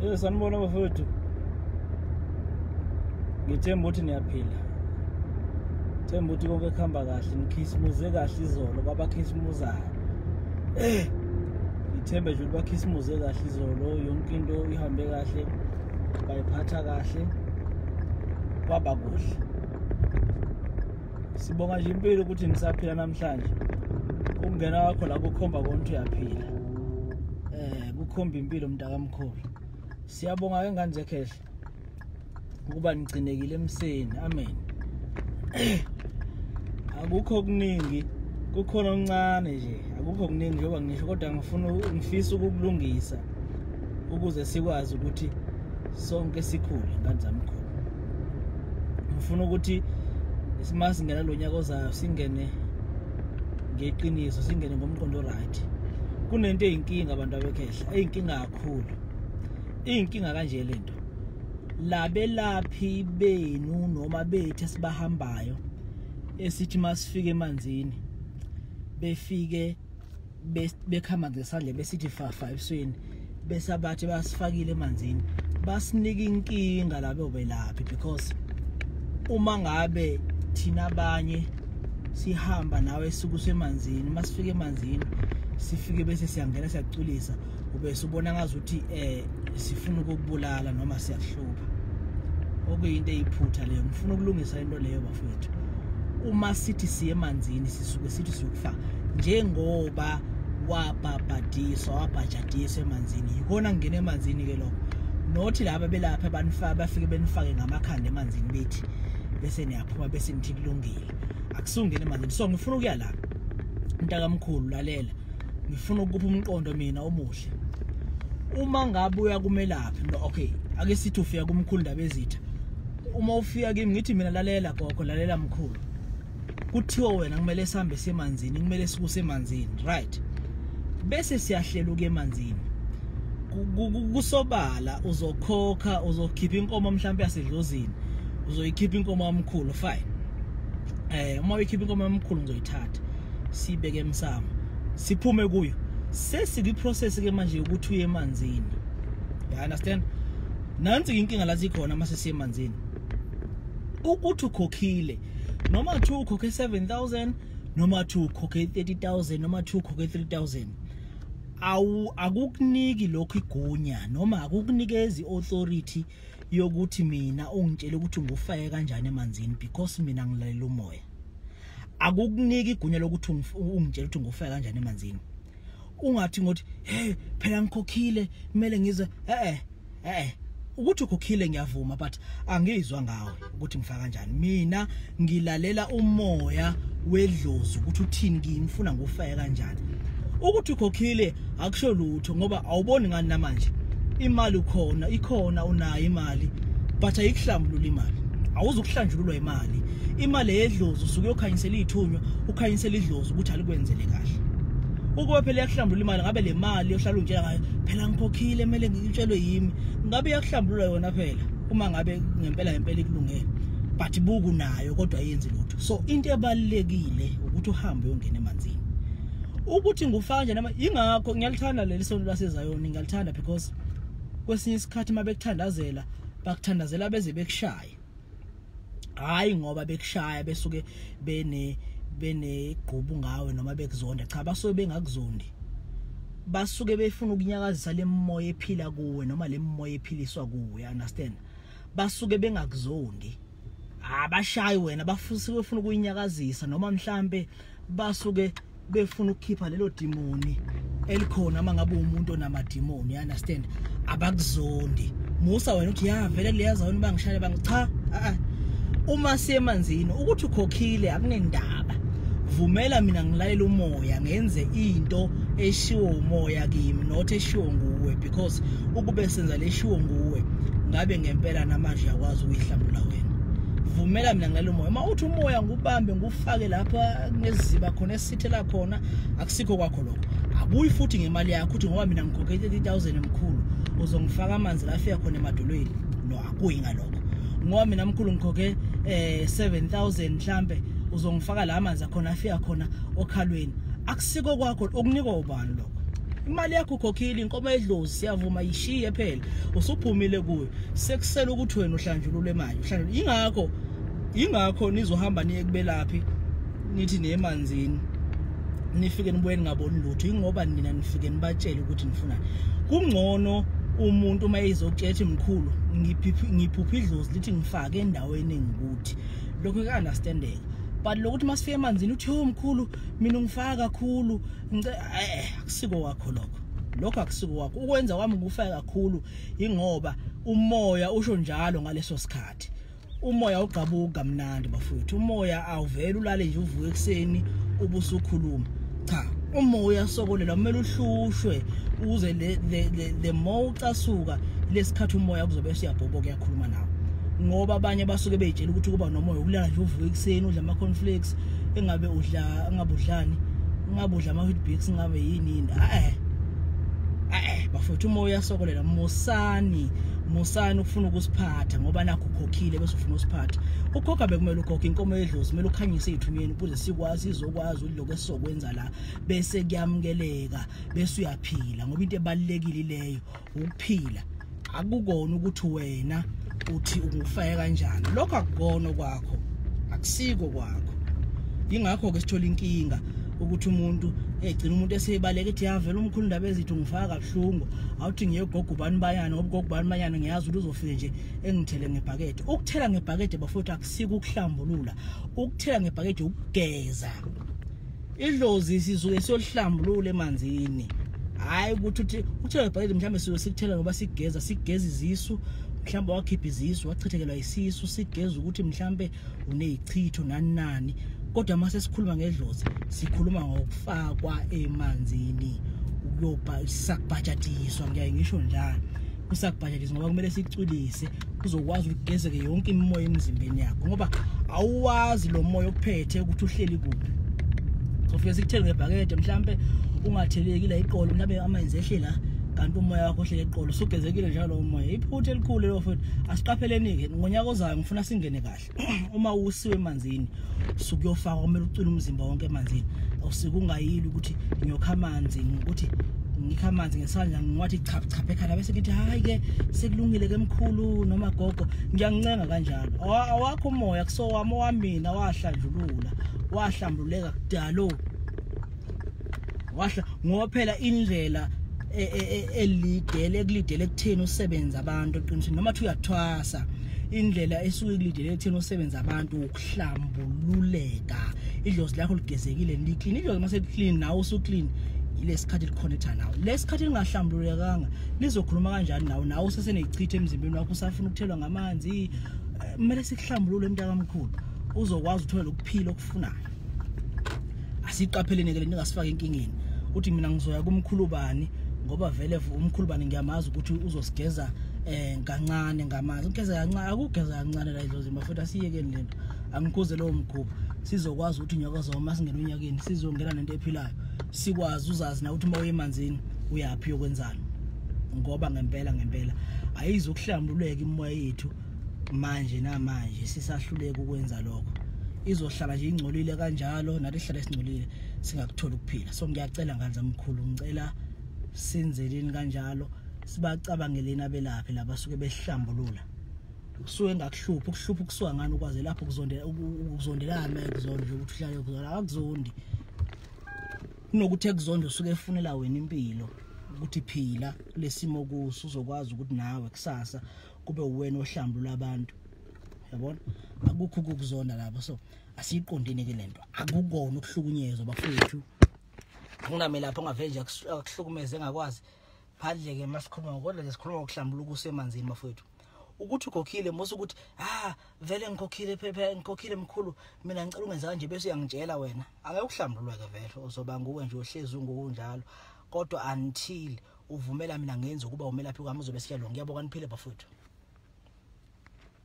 Eh sanibona bafowethu. Ngithemba ukuthi niyaphila. Themba ukuthi konke kuhamba kahle, nikhisimuze kahle izolo kwabakhisimuzayo. Eh ngithembe nje ukuthi bakhisimuze kahle izolo, yonke into ihambe kahle, bayiphatha kahle. Kwaba kuhle. sibonga nje impilo ukuthi nisaphila namhlanje ukungena wakho la kukhomba konke uyaphila eh kukhomba impilo mntakamkhulu siyabonga ke ngane zekhehle ukuba nigcinekile emseni amen akukho okuningi kukhona okuncane nje akukho okuningi njengoba ngisho kodwa ngifuna ngifisa ukukulungisa ukuze sikwazi ukuthi sonke sikhule ngane zamkhulu ngifuna ukuthi simasingena lo nyaka ozayo singene ngeqiniso singene ngomqondo right kunento eyinkinga abantu abekhehla eyinkinga kakhulu iyinkinga kanje lento labelaphi benu noma bethu esibahambayo esithi masifike emanzini befike bekhama ngesandle besithi fafa ebusweni bese abathi basifakile emanzini basinika inkinga labo belaphi because uma ngabe thina abanye sihamba nawe esuku semanzini masifike emanzini sifike bese siyangena siyaculisa ube subona ngazi ukuthi eh sifuna ukubulala noma siyahlupha okuyinto eyiphutha leyo ngifuna ukulungisa into leyo bafethu uma sithi siye emanzini sisuke sithi siyokufa njengoba wabhabhadiswa wabhajadiswa emanzini yikona ngingena emanzini ke lokho nothi laba belapha banifaka bafike benifake ngamakhanda emanzini bethi bese niyaphuma bese nithi kulungile akusungene emanzini so ngifuna ukuya la mntakamkhulu lalela ngifuna ukupha umqondo mina omuhle uma ngabe uya kumelaphi no okay ake sithi ufika kumkhulu ndaba ezitha uma ufika kimi ngithi mina lalela gogo lalela mkhulu kuthiwa wena kumele sihambe semanzini kumele sikuse emanzini right bese siyahlela uke emanzini kusobala uzokhokha uzokhipha inkomo mhlawumbe yasedlozini uzoyikhipha inkomo yamkhulu fine eh uma uyikhipha inkomo yamkhulu ngizoyithatha sibeke emsamo siphume kuyo sesikwiprocess ke manje yokuthi uye emanzini you understand nansi inkinga la sikhona uma sesiye emanzini ukuthi ukhokhile noma two ukhokhe 7000 noma two ukhokhe 30000 noma two ukhokhe 3000 awu akukuniki lokho igunya noma akukunikezi authority yokuthi mina ungitshele ukuthi ngufake kanjani emanzini because mina ngilalela umoya akukuniki igunya lokuthi ungitshela ukuthi ngofika kanjani emanzini ungathi ngothi hey phela ngikhokhile kumele ngize eh eh ukuthi ukhokhile ngiyavuma but angizwa ngawe ukuthi ngifaka kanjani mina ngilalela umoya wedlozi ukuthi uthini kimi ngifuna ngufeke kanjani ukuthi ukhokhile akusho lutho ngoba awuboni ngani namanje imali ukhona ikhona unayo imali but ayikuhlambulula imali awuzukuhlanjululwa imali imali eyedlozi usuke uyokhanyisela ithunywa ukhanyisela idlozi ukuthi alikwenzele kahle ukube phela yakuhlambulula imali ngabe le mali yohlala unjela ngayo phela ngikhokhile kumele ngitshelwe yimi ngabe yakuhlambulula yona phela uma ngabe ngempela ngempela ikulungele but buku nayo kodwa yenzi lutho so into ebalekile ukuthi uhambe uyongena emanzini ukuthi ngufaka nje nama ingakho ngiyalithanda leli sonto laseZayoni ngiyalithanda because kwesinye isikhathi uma bekuthandazela bakuthandazela beze bekushaya hayi ngoba bekushaya besuke bene benegqubu ngawe noma bekuzonda cha basuke bengakuzondi basuke befuna ukunyakazisa lemoya ephila kuwe noma lemoya ephiliswa kuwe understand basuke bengakuzondi abashayi wena bafuse befuna ukuyinyakazisa noma mhlambe basuke befuna ukukhipha lelo dimoni elikhona uma ngabe umuntu onamadimoni you understand abakuzondi musa wena uthi ya vele liyazona uba ngishale bang cha a uma siyemanzini ukuthi ukhokhile akunendaba vumela mina ngilalela umoya ngenze into eshiwo umoya kimi not eshiwo nguwe because ukube senza leshiwo nguwe ngabe ngempela namanje yakwazi ukuyihlambula wena vumela mina ngilalela umoya uma uthi umoya ngubambe fake lapha kuneziziba khona esithela khona akusikho kwakho lokho abuyi futhi ngemali yakho uthi ngoba mina ngikhokhe 30000 emkhulu uzongifaka amanzi la afika khona emadolweni no akuyi ngalokho ngoba mina mkhulu ngikhokhe eh 7000 mhlambe uzongifaka la amanzi akhona afika khona okhalweni akusiko kwakho okunikwa ubani lokho imali yakho ukhokhile inkomo edlozi siyavuma yishiye phela usuphumile kuyo sekusela ukuthi wena uhlanjulule imali uhlanjulule ingakho ingakho nizohamba niye kubelaphi nithi nemanzini nifike nibuye ningaboni lutho ingoba nina nifike nibatshele ukuthi nifunani kungcono umuntu uma ezokutshetha mkhulu ngiphupha idlozi lithi ngifake endaweni engikuthi lokho kuya-understandeka but lokuthi uma sifike emanzini uthi yo mkhulu mina ungifaka kakhulu eh akusiko wakho lokho lokho akusiko wakho ukwenza kwami kufaka kakhulu ingoba umoya usho njalo ngaleso sikhathi umoya ugqabuka kamnandi bafowethu umoya awuvele ulale nje uvuke ekuseni ubusukhuluma cha umoya uyasokolela kumele uhlushwe uze le le le, le more ucasuka lesikhathi umoya kuzobe siyabhoboka yakhuluma nawe ngoba abanye basuke beyitshela ukuthi kuba nomoya ukulala nje uvuke ekuseni udla ama cornflakes engabe udla engabe udlani engabe udla ama wheatbix engabe yini yini eh eh bafowethu umoya uyasokolela musani musani ukufuna ukusiphatha ngoba nakho ukhokhile bese ufuna usiphatha ukhokha bekumele ukhokhe inkomo yedlozi kumele ukhanyise ithumyeni ukuze sikwazi izokwazi uloko esizokwenza la bese kuyamukeleka bese uyaphila ngoba into ebalekile leyo ukuphila akukona ukuthi wena uthi ungufaya kanjani lokho akukona kwakho akusiko kwakho ingakho ke sithola inkinga ukuthi umuntu egcina umuntu eseyibaleka ethi yavela umkhulu ndaba ezithu ngifaka buhlungu awuthi ngiyegogo ubani bayana ngoba ugogo ubani bayana ngiyazi ukuthi uzofike nje engithele ngebhakede ukuthela ngebhakede bafowethu akusiko ukuhlambulula ukuthela ngebhakede ukugeza idlozi sizuke siyolihlambulula emanzini hayi ukuthi uthi uthela ngebhakede mhlawumbe sizoke sikuthela ngoba sigeza sigeza izisu mhlawumbe wakhipha izisu wachithekelwa isisu sigeza ukuthi mhlawumbe unezichitho nani nani kodwa uma sesikhuluma ngedlozi sikhuluma ngokufakwa emanzini ukuyoba sakubhajatiswa ngiyaye ngisho njalo kusakubhajatiswa ngoba kumele sicwilise kuzokwazi ukugezeke yonke imimoya emzimbeni yakho ngoba awuwazi lo moya ophethe ukuthi uhleli kuphi sofike sikuthele ngebhakede mhlampe ungatheleki la iqolo mhlampe amanzi ehle la kanti umoya wakho ohlele eqolo usugezekile njalo umoya iphutha elikhulu lelo futhi asiqapheleni-ke ngonyaka ozayo funa singene kahle uma usiwe emanzini suku yofaka kumele ucule umzimba wonke emanzini awusike ungayili ukuthi ngiyokha amanzi ukuthi ngikha amanzi ngesandla ngiwathi chapha chapha ekhanda bese ngithi hayi ke sekulungile ke mkhulu noma gogo ngiyancenga kanjalo awakho umoya kusowami owamina wahlanjulula wahlambuleka kudalo wahla ngoba phela indlela e, e, e, elidele ekulidele kutheni usebenza abantu eqinisweni noma thi uyathwasa indlela esuke kulidele ekutheni usebenza abantu ukuhlambululeka idlozi lakho ligezekile liclean idlozi uma seliclean nawe usuclean yilesikhathi likhonetha nawe lesikhathi lingahlambululekanga lizokhuluma kanjani nawe nawe usesenechitha emzimbeni wakho usafuna ukuthelwa ngamanzi eh, kumele sikuhlambulule mntakamkhulu uzokwazi uthole lokuphila okufunayo asiqapheleni ke ningasifaka enkingeni uthi mina ngizoya kumkhulubani ngoba vele umkhulubani ngiyamazi ukuthi uzosigeza eh kancane ngamanzi ugeza kancane akugeza kancane la idlozi mafutha siyekeni lento angikhuze lowo mkhuba sizokwazi ukuthi nyoka zoma masingena unyakeni sizongena nento ephilayo sikwazi uzazi na ukuthi uma uyemanzini uyaphi yokwenzani ngoba ngempela ngempela ayizokuhlambululeka imoya yethu manje namanje sisahluleka ukwenza lokho izohlala nje ingcolile kanjalo nathi sihlale singcolile singakuthola ukuphila so ngiyacela nganza mkhulu ngicela sinzeleni kanjalo sibacabangeleni abelaphi laba suke behlambulula kusuke ngakuhlupha ukuhlupha ukusuka ngani ukwaze lapho kuzondela ukuzondelana ekuzonde ukuthi uhlale kuzona akuzondi kunokuthi ekuzonde usuke efunela wena impilo ukuthi phila kulesimo kuso uzokwazi ukuthi nawe kusasa kube uwena ohlambulula abantu yabona akukho ukuzona lapho so asiyiqondini ke lento akukona ukuhlukunyezwa bafowethu kungamela lapho ongavenje akuhlukumeze engakwazi phandle ke masikhuluma ngokodwa nje sikhuluma ngokuhlambula ukusemanzini bafowethu ukuthi ukhokhile musa ukuthi ah vele ngikhokhile phepha ngikhokhile mkhulu mina ngicela ungenza kanje bese uyangitshela wena angeke uhlambululwe ke vele uzoba nguwe nje ohlezi ungokunjalo kodwa until uvumela mina ngenza ukuba umelaphi kwami uzobe siyalo ngiyabonga niphile bafowethu